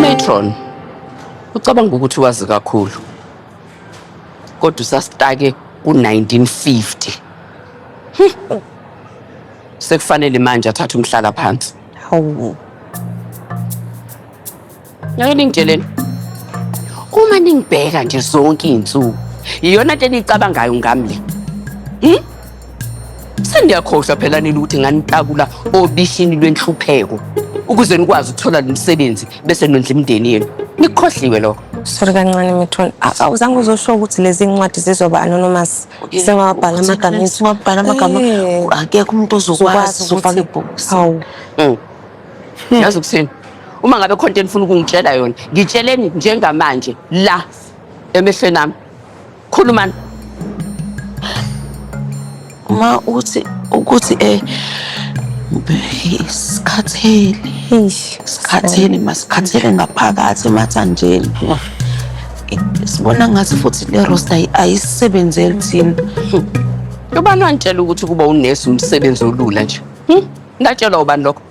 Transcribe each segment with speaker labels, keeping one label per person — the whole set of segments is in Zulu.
Speaker 1: Metron ucabanga ukuthi wazi kakhulu kodwa usasitake ku-1950 hmm. sekufanele manje athathe umhlala phansi hawu ngeke ningitsheleni uma ningibheka nje zonke iy'nsuku iyona nto eniyicabangayo ngami le hmm? Seniyakhohlwa phela nini ukuthi nganitakula obishini lwenhlupheko ukuze nikwazi ukuthola lo msebenzi bese nondla imindeni yenu. Nikhohliwe lokho. Sorry kancane
Speaker 2: Mithoni. A- Awuzange uzosho ukuthi lezi ncwadi zizoba anonymous. Sengawabhala amagama ethu. Siwabhala amagama.
Speaker 3: Eh. Akekho umuntu ozokwazi uzofaka ibhokisi. Hawu.
Speaker 2: Mm.
Speaker 1: Yazi ukuthini? Uma ngabe khona into enifuna ukungitshela yona, ngitsheleni njengamanje la emehlweni ami. Khulumani.
Speaker 3: Ma uthi ukuthi eh sikhathele. Eish, Sikhathele masikhathele ngaphakathi emathanjeni. Sibona ngathi futhi le roster ayi- ayisebenzeli thina.
Speaker 1: Ubani wantshela ukuthi ukuba unesi umsebenzi olula nje? Hmm? Ngatshelwa ubani lokho?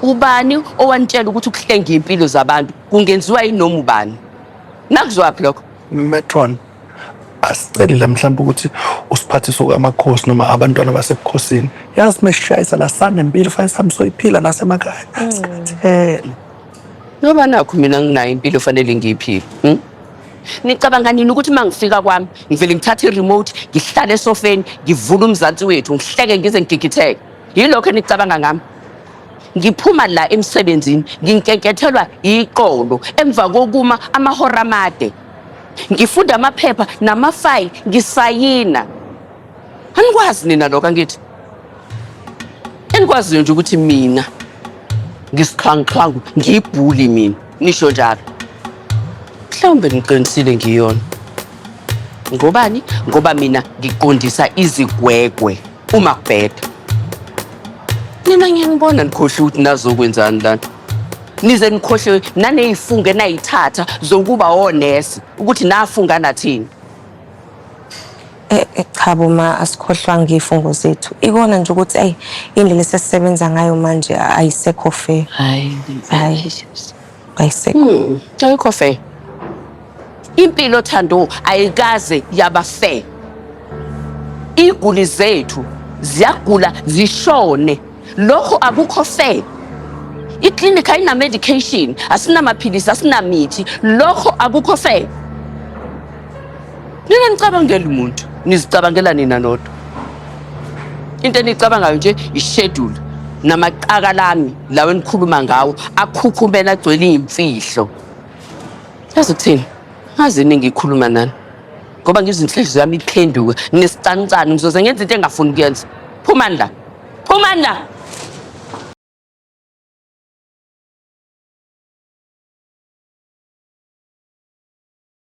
Speaker 1: Ubani owantshela ukuthi ukuhlenga impilo zabantu kungenziwa yinoma ubani? Nakuzwaphi lokho? Metron
Speaker 4: asicelile mhlawumbe ukuthi usiphathiso kamakhosi noma abantwana basebukhosini yazi mesishayisa la sanempilo fanele sihambe soyiphila nasemakhaya mm. sikhathele ngoba
Speaker 1: nakho mina nginayo impilo fanele ngiyiphile hmm? nicabanga nini ukuthi uma ngifika kwami ngivele ngithathe i-remote ngihlale esofeni ngivule umzansi wethu ngihleke ngize ngigigitheke yilokho enicabanga ngami ngiphuma la emsebenzini nginkenkethelwa iqolo emva kokuma amahora amade ngifunda amaphepha namafayili ngisayina anikwazi nina lokho angithi enikwaziyo nje ukuthi mina ngisixhwanguxhwangu ngiyibhuli mina nisho njalo mhlawumbe niqinisile ngiyona ngobani ngoba mina ngiqondisa izigwegwe uma kubheda nina ngiyanibona nikhohle ukuthi nazokwenzani lana nize nikhohle naney'funge nayithatha zokuba onesi ukuthi nafunga nathini Eh,
Speaker 2: eh, cha bo ma asikhohlwanga iy'fungo zethu ikona nje ukuthi ayi indlela esesisebenza ngayo manje ayisekho fair hayi
Speaker 3: hayi Bayisekho.
Speaker 2: Hmm, ayikho fair.
Speaker 1: Impilo Thando ayikaze yaba fair. Iguli zethu ziyagula zishone. Lokho akukho fair. Iclinic ayina medication, asinamaphilisi, asinamithi. Lokho akukho fair. Nina nicabangela umuntu, nizicabangela nina nodwa. Into enicabangayo nje ishedule namaqaka lami lawo enikhuluma ngawo akhukhumela agcwele iy'mfihlo. Yazi ukuthini? Ngazi iningi ikhuluma nani. Ngoba ngizinhliziyo yami iphenduke nesicanicani ngizoze ngenza into engafuni kuyenza. Phumani la. Phumani la.